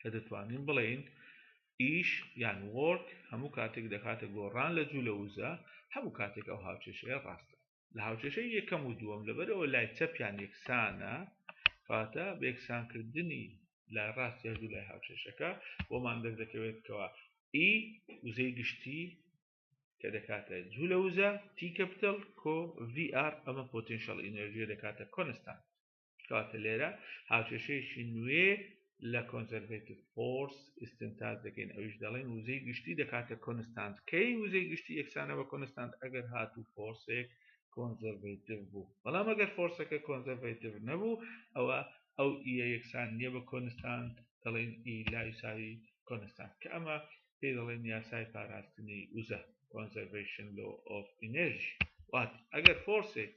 کە دەتوانین بڵێین ئیش یان وۆرک هەموو کاتێک دەکاتە گۆڕان لە جوو لە وزە هەموو کاتێک ئەو هاوچێشەیە ڕاستە لە هاوچێشەی یەکەم و دووەم لەبەرەوە لای چەپیان یەکسانە کاتە بێکسانکردنی لای ڕاست یا دوو لای هاوچێشەکە بۆمان دەردەکەوێتەوە ئی وزەی گشتی کە دەکاتە جوو لە وزە تی کەپتل کۆ VR ئەمە پۆتینشەڵ ئینەرژیە دەکاتە کۆنستان کاتە لێرە هاوکێشەیەکی نوێ لە کۆنزەرڤێتیف فۆرس ئستنتاج دەکەین ئەوش دەڵێن وزەی گشتی دەکاتە کۆنستانت کەی وزەی گشتی یەکسانە بە کۆنستانت ئەگەر هاتوو فۆرسێک کۆنزەرڤێتیف بوو بەڵام ئەگەر فۆرسەکە کۆنزەرڤێتیف نەبوو ئەوە ئەو ئە یەکسان نییە بە کۆنستانت دەڵێن ئی لایساوی کۆنستانت کە ئەمە پێی دەڵێن یاسای پاراستنی وزە کۆنزەرڤشن لۆ ئۆف ئینرژی وات ئەگەر فۆرسێک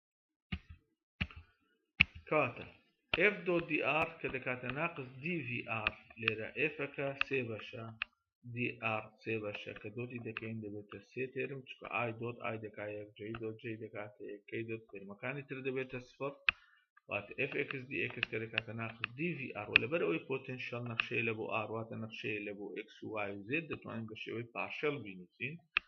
کاتە f دۆ دی ئار کە دەکاتە ناقز DVR لێرە ئێفەکە سێ بەشە DR سێ بەشە کە دۆتی دەکەین دەبێتە سێ تێرم چکە ئای دۆت ئای دەکا یەک جێی دۆت جێی دەکاتە یەکەی دۆت تێرمەکانی تر دەبێتە سفر وات FX DX کە دەکاتە ناقز DVR و لەبەر ئەوی پۆتنشل نەخشەیە لە بۆ ئارواتە نەخشەیە لە بۆ X و Y و Z دەتوانین بە شێوەی پارشل بینوسین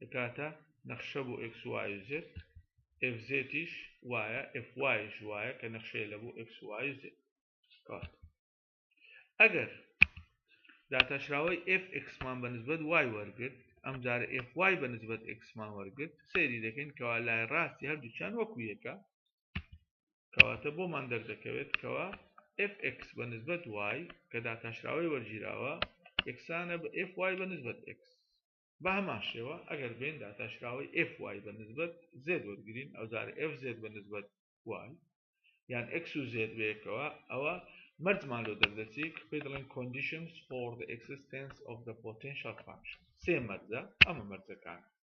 دەکاتە نەخشە بۆ ئکس وای و زێت ئف زێتیش وایە ئف وایش وایە کە نەخشەیە لە بۆ ئکس وای و زێت کات ئەگەر داتاشراوەی ئف ئکسمان بە نسبەت وای وەرگرت ئەم جارە ئف وای بە نسبەت ئکسمان وەرگرت سەیری دەکەین کەوا لای ڕاستی هەردووچان وەکو یەکە کەواتە بۆمان دەردەکەوێت کەەوە fx بە نسبت وای کە داتاشراوی وەرگیراوە یەکسانە بە fy بە نسبت x بە هەمان شێوە ئەگەر بێن داتاشراوی fy بە نسبت z وەرگین ئەو جار fz بە نسبت وای یان x و z بەیەکەوە ئەوە مەرجمان لۆ دەردەچی کە پێ دەڵێن conditions for the existence of the potential function سێ مەرجە ئەمە مەرجەکانە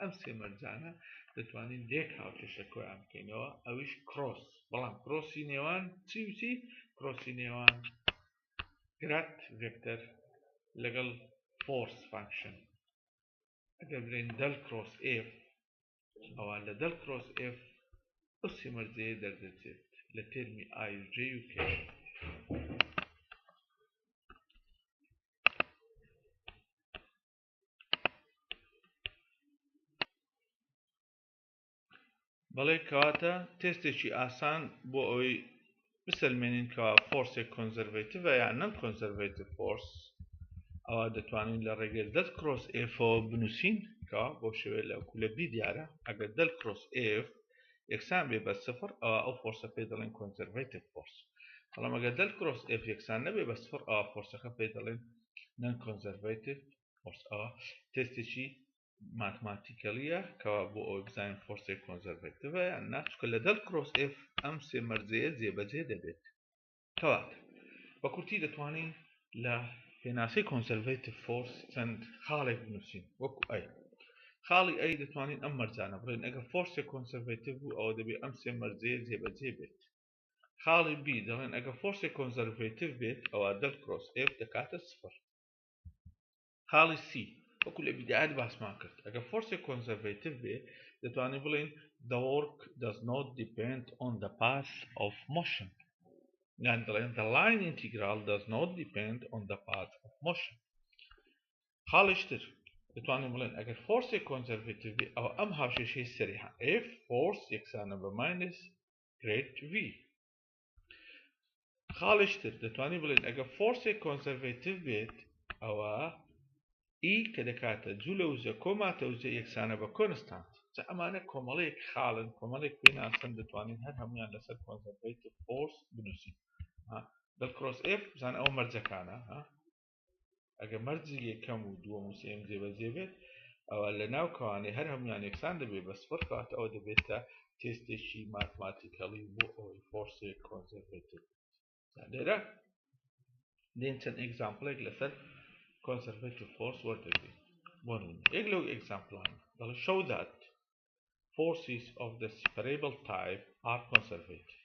ئەم سێ مەرجانە دەتوانین لێک هاوکێشە کۆیان بکەینەوە ئەویش کرۆس بەڵام کرۆسی نێوان چی وچی کرۆسی نێوان گرات ڤێکتەر لەگەڵ فۆرس فانکشن ئەگەر بلێن دەل کرۆس ئف ئەوان لە دەل کرۆس ئف ئەو سێ مەرجەیە دەردەچێت لە تێرمی ئای و جێ و کێش بەڵێ کەواتە تێستێکی ئاسان بۆ ئەوەی بسەلمێنین کەوا فۆرسێک کۆنزەرڤیتڤ یان نەم کۆنزەرڤیتڤ فۆرس ئەوە دەتوانین لە ڕێگەی دەل کرۆس ئفۆ بنووسین کەوا بۆ شێوێ لە کولە بی دیارە ئەگەر دەل کرۆس ئف یەکسان بێ بە سفر ئەوە ئەو فۆرسە پێ دەڵێن کۆنزەرڤیتڤ فۆرس بەڵام ئەگەر دەل کرۆس ئف یەکسان نەبێ بە سفر ئەوە فۆرسەکە پێ دەڵێن Non-Conservative Force، ە، تێستێکی ماتماتیکەلیە کەوا بۆ ئەوەی بزانین فۆرسێک کۆنزەرڤەتڤە یان نا چونکە لەگەڵ کرۆس ئێف ئەم سێ مەرجەیە جێبەجێ دەبێت کەواتە بە کورتی دەتوانین لە پێناسەی کۆنسەرڤەتیڤ فۆرس چەند خاڵێک بنووسین وەکو ئەی خاڵی ئەی دەتوانین ئەم مەرجانە بڵێن ئەگە فۆرسێک کۆنسەرڤەتیڤ بوو ئەوە دەبێت ئەم سێ مەرجەیە جێبەجێ بێت خاڵی B دەڵێن ئەگەر فۆرسێک کۆنزەرڤەیتڤ بێت ئەوا دەل کرۆس F دەکاتە سفر خاڵی C وەکو لە بیدایەت باسمان کرد ئەگەر فۆرسێک کۆنزەرڤەیتڤ بێ دەتوانین بڵێن the work does not depend on the path of motion یان دەڵێن the line integral does not depend on the path of motion خاڵیشتر دەتوانین بڵێن ئەگەر فۆرسێک کۆنزەرڤەیتڤ بێ ئەو ئەم هاوشێشەی سەری F فۆرس یەکسانە بە ماینس گرێد وی خاڵش تر دەتوانین بڵێن ئەگە فۆرسێک کۆنسەرڤێتیو بێت ئەوە ئی کە دەکاتە جوو لە وزە کۆماتە وزە یەکسانە بە کۆنستانت جا ئەمانە کۆمەڵێک خاڵن کۆمەڵێک پێناسن دەتوانین هەر هەمویان لەسەر کۆنسەرڤێتیو فۆرس بنووسین دڵکرۆس ئێف بزان ئەو مەرجەکانە ئەگە مەرجی یەکەم و دووەم و سێم جێبەجێ بێت ئەوە لە ناو کەوانێ هەر هەموان یەکسان دەبێت بە سفر کات ئەوە دەبێتە تێستێکی ماتماتیکەڵی بۆ ئەوەی فۆرسێک کۆنسەرڤێتر لێرە دێن چەند ئەگزامپلێک لەسەر کۆنسەرڤێتیو فۆرس وەردەگرێت بۆ یەک لەو ئەگزامپلان دەڵێ شەو دات forces of the separable type are conservative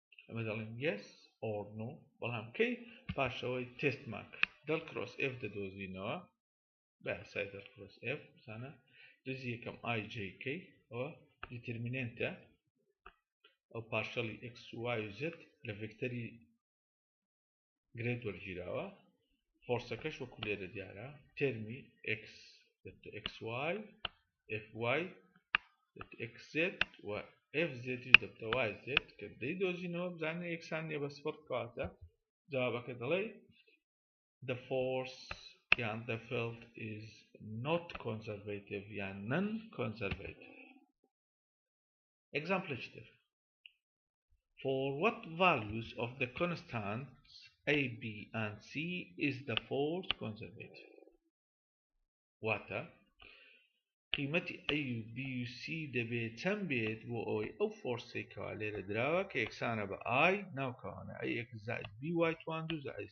ئەمە دەڵێن یس ئۆرنۆ بەڵام کەی پاشەوەی تست ماک دڵ کرۆس ئف دەدۆزینەوە بە سای دڵ کرۆس ئف بزانە دزی یەکەم ئای جیکەی ئەوە دیترمینێنتە ئەو پاشەڵی ئەکسوای زت لە ڤکتەری گرێت وەرگیراوە فۆرسەکەش وەکو لێرە دیارە تەرمی x xy fy xz و fz دەبتەوای زێت کە دەی دۆزینەوە بزانە یەکسان نیە بە سپڕ کاتە جوابەکە دەڵێ the force یان the field is not conservative یان non conservative example تر For what values of the constants A, B and C is the force conservative واتە قیمەتی A و B و C دەبێت چەند بێت بۆ ئەوەی ئەو فۆرسێکەوە لێرە دراوە کە یەکسانە بە I ناوکەوانە ئەی ئێکس زائد بی وای توان دوو زائد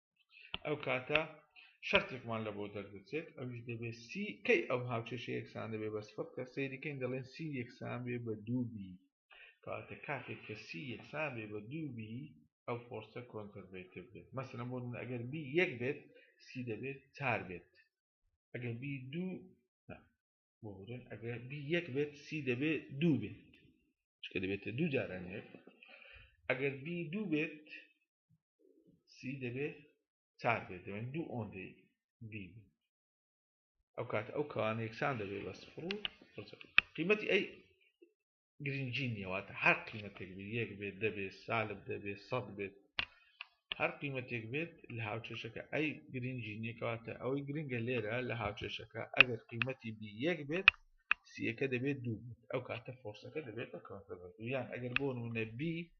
ئەو کاتە شەرتێکمان لە بۆ دەردەچێت ئەوش دەبێت سی کەی ئەو هاوچێشە یەکسان دەبێت بە سفر کە سەیریکەین دەڵێن سی یەکسان بێ بە دووبی کاتە کاتێک کە سی یەکسان بێ بە دووبی ئەو فۆرسە کۆنتەرڤێتیڤ بێت مەسەن بۆ من ئەگەر بی یەک بێت سی دەبێت چار بێت ئەگەر بی دوو بۆورن ئەگەر بی یەک بێت سی دەبێت دوو بێت چکە دەبێتە دوو جاران یەک ئەگەر بی دوو بێت سی دەبێت چار بێت دەبێت دوو ئۆندی بی ئەو کات ئەو کەوانە یەکسان دەبێت بە سفر و قیمەتی ئەی گرنگی نیەواتە هەر قیمەتێک بێت یەک بێت دەبێت سالب دەبێت سەد بێت هەر قیمەتێک بێت لە هاوچێشەکە ئەی گرنگی نیەکەواتە ئەوەی گرنگە لێرە لە هاوچێشەکە ئەگەر قیمەتی بی یەک بێت سیەکە دەبێت دوو بێت ئەو کاتە فۆرسەکە دەبێت بە کەواتە بە دوویان ئەگەر بۆ نمونە بی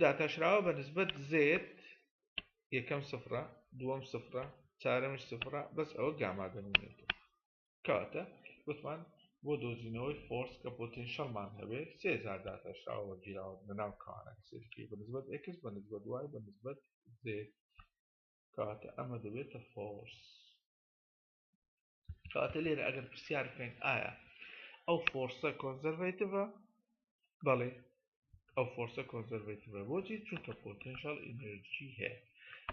داتاشراوە بە نسبەت زێت یەکەم سفرە دووەم سفرە چارەمش سفرە بەس ئەوە گاما دەمێنێت کاتە وتمان بۆ دۆزینەوەی فۆرس کە پۆتینشەڵمان هەبێت سێزار داتاشراوە وەگیراوە بەناو کانە سێکی بە نسبەت ئەکس بە نسبەت وای بە نسبەت زێت کاتە ئەمە دەبێتە فۆرس کاتە لێرە ئەگەر پرسیار بکەین ئایا ئەو فۆرسە کۆنزەرڤیتڤە بەڵێ ئەو فۆرسە کۆنزەرڤیتڤە بۆچی چونکە پۆتنشال ئینرژی هەیە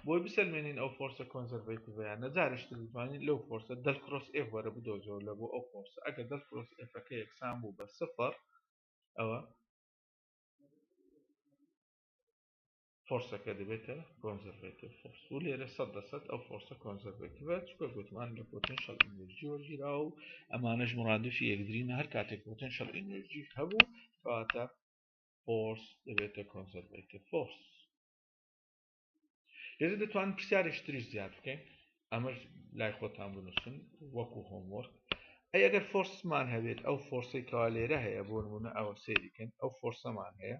بۆی بسەلمێنین ئەو فۆرسە کۆنزەرڤیتڤەیە نەجارش دەزانین لەو فۆرسە دەل کرۆس ئێف وەرە بدۆزەوە لە بۆ ئەو فۆرسە ئەگەر دەل کرۆس ئێفەکە یەکسان بوو بە سفر ئەوە فۆرسەکە دەبێتە کۆنزەرڤێتیڤ فۆرس و لێرە سەد دەسەد ئەو فۆرسە کۆنزەرڤێتیڤە چکە گوتمان لە پۆتنشەل ئینرژی وەرگیرا و ئەمانەش مرادفی یەکدرینە هەر کاتێک پۆتنشەل ئینرژی هەبوو کەواتە فۆرس دەبێتە کۆنزەرڤێتیڤ فۆرس لێرە دەتوان پرسیارێک تریش زیاد بکەین ئەمەش لای خۆتان بنووسن وەکو هۆمۆر ئەی ئەگەر فۆرسمان هەبێت ئەو فۆرسی کەوا لێرە هەیە بۆ نمونە ئەوە سێریکەن ئەو فۆرسەمان هەیە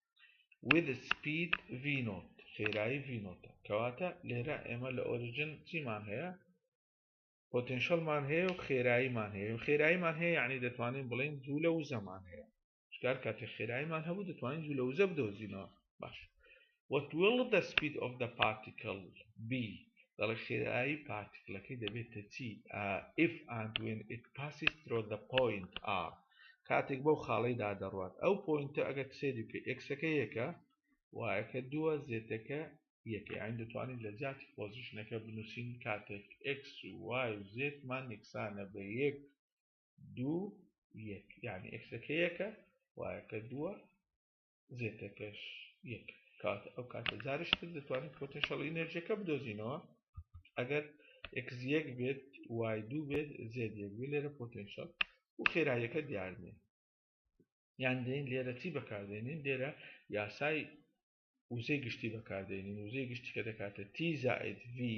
ویدس سپید ڤی نۆت خێرایی ڤی نۆتە کەواتە لێرە ئێمە لە ئۆریجن چیمان هەیە پۆتنشەلمان هەیە و خێراییمان هەیە و خێراییمان هەیە یعنی دەتوانین بڵین جوولە و زەمان هەیە شکار کاتێ خێراییمان هەبوو دەتوانین جوولە وزە بدۆزینەوە باش What will the speed of the particle be دەڵێ خێرایی پارتیکلەکەی دەبێتە چی uh, if and when it passes through the point R کاتێک بەو خاڵەیدا دەڕوات ئەو پۆینتە ئەگەر سەیری بکەی ئێکسەکە یەکە وایەکە دووە زێتەکە یەکە یانی دەتوانین لە جیاتی پۆزیشنەکە بنووسین کاتێک ئێکس و وای و زێتمان یەکسانە بە یەک دوو یەک یانی ئێکسەکە یەکە وایەکە دووە زێتە پێش یەک کات ئەو کاتە جارش تر دەتوانین پۆتەنشەڵ ئینەرژیەکە بدۆزینەوە ئەگەر ئەکس یەک بێت وای دوو بێت زێت یەک بێت لێرە پۆتەنشەڵ و خێراییەکە دیارنێ یان دێن لێرە چی بەکاردێنین لێرە یاسای وزەی گشتی بەکاردێنین وزەی گشتی کە دەکاتە تی زائد ڤی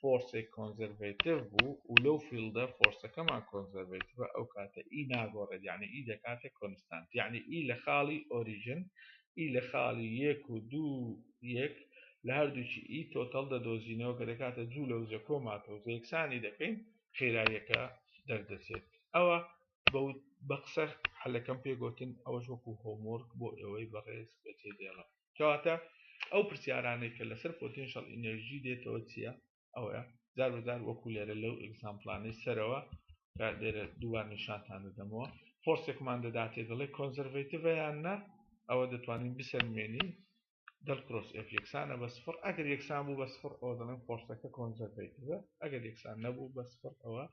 فۆرسێک کۆنزەرڤەیتڤ بوو و لەو فیڵدە فۆرسەکەمان کۆنزەرڤەیتڤە ئەو کاتە ئی ناگۆڕێت یانی ئی دەکاتە کۆنستانت یانی ئی لە خاڵی ئۆریژن ئی لە خاڵی یەک و دوو یەک لە هەردووکی ئی تۆتەڵ دەدۆزینەوە کە دەکاتە جوو لە وزە کۆ ماتەوزە یەکسانی دەکەین خێراییەکە دەردەچێت ئەوە بە قسە حەلەکەم پێ گۆتن ئەوەش وەکو هۆمۆرک بۆ ئێوەی بەڕێز بەجێ دێڵم. کەواتە ئەو پرسیارانەی کە لەسەر پۆتینشەڵ ئینێرژی دێتەوە چییە ئەوەیە جار بەجار وەکو لێرە لەو ئەگزامپلانەی سەرەوە کە لێرە دووبار نیشانتان دەدەمەوە فۆرسێکمان دەداتێ دەڵێ کۆنزەرڤەیتڤە یان نە ئەوە دەتوانین بسەلمێنین دەل کرۆس ئف یەکسانە بە سفر ئەگەر یەکسان بوو بە سفر ئەوە دەڵێن فۆرسەکە کۆنزەرڤەیتڤە ئەگەر یەکسان نەبوو بە سفر ئەوە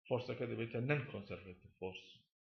فۆرسەکە دەبێتە نەن کۆنزەرڤەیتڤ فۆرس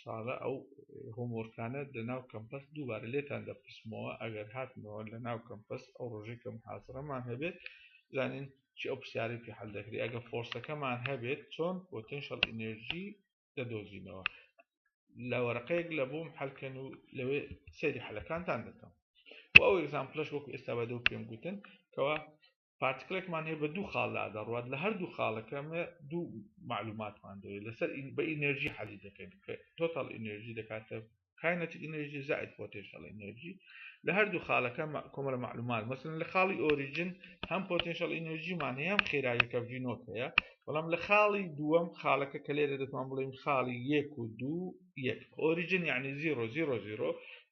ساڵە ئەو هۆمۆرکانە لە ناو کەمپەس دووبارە لێتان دەپرسمەوە ئەگەر هاتنەوە لە ناو کەمپەس ئەو ڕۆژی کەم حازرەمان هەبێت زانین چی ئەو پرسیاری پێ حل دەکری ئەگە فۆرسەکەمان هەبێت چۆن پۆتنشل ئینێرژی دەدۆزینەوە لە وەرەقەیەک لە بۆم حلکەن و لەوێ سەیری حلەکانتان دەکەم و ئەو ئەگزامپلش وەکو ئێستا بە دەو پێم گوتن کەوا پارتکلێکمان هەیە بە دوو خاڵ لا دەڕوات لە هەردوو خاڵەکە مە دوو معلوماتمان دەوێت لەسەر ئین بە ئینێرژی حەلی دەکەین کە تۆتاڵ ئینێرژی دەکاتە کاینەتی ئینێرژی زائد پۆتێنشەڵ ئینێرژی لە هەردوو خاڵەکە کۆمەلە معلومات مەسن لە خاڵی ئۆریجن هەم پۆتێنشەڵ ئینێرژیمان هەیە هەم خێراییەکە ڤینۆت هەیە بەڵام لە خاڵی دووەم خاڵەکە کە لێرە دەتوان بڵێین خاڵی یەک و دوو یەک ئۆریجن یعنی زیرۆ زیرۆ زیرۆ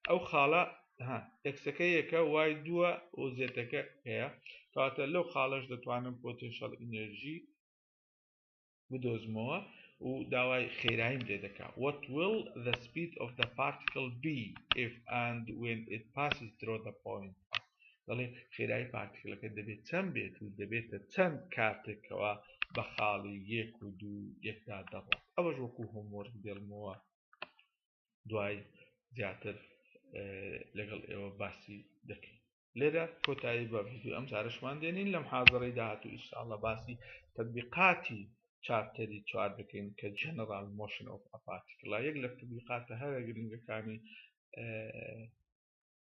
ئەو خاڵە ها تەکسەکە یەکە وای دووە و زێتەکە هەیە کەواتە لەو خاڵەش دەتوانم پۆتێنشەڵ ئینێرژی بدۆزمەوە و داوای خێرایم لێ دەکا what will the speed of the particle be if and when it passes through the point دەڵێ خێرای پارتیکلەکە دەبێت چەند بێت و دەبێتە چەند کاتێکەوە بە خاڵی یەک و دوو یەکدا دەڕات ئەوەش وەکو هۆمۆرگ دێڵمەوە دوای زیاتر لەگەڵ ئێوە باسی دەکەین لێرە کۆتایی بە ڤیددیو ئەم جارشمان دێنین لەم حاضڕی داهاتوو ئیشاءڵە باسی تەبیقاتی چاپتەری چوار دەکەین کە جەنەڕال مۆشن ئۆف ئەپاتیکڵا یەک لە تەبیقاتە هەرە گرنگەکانی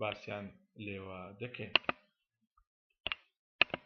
باسیان لێوە دەکەین.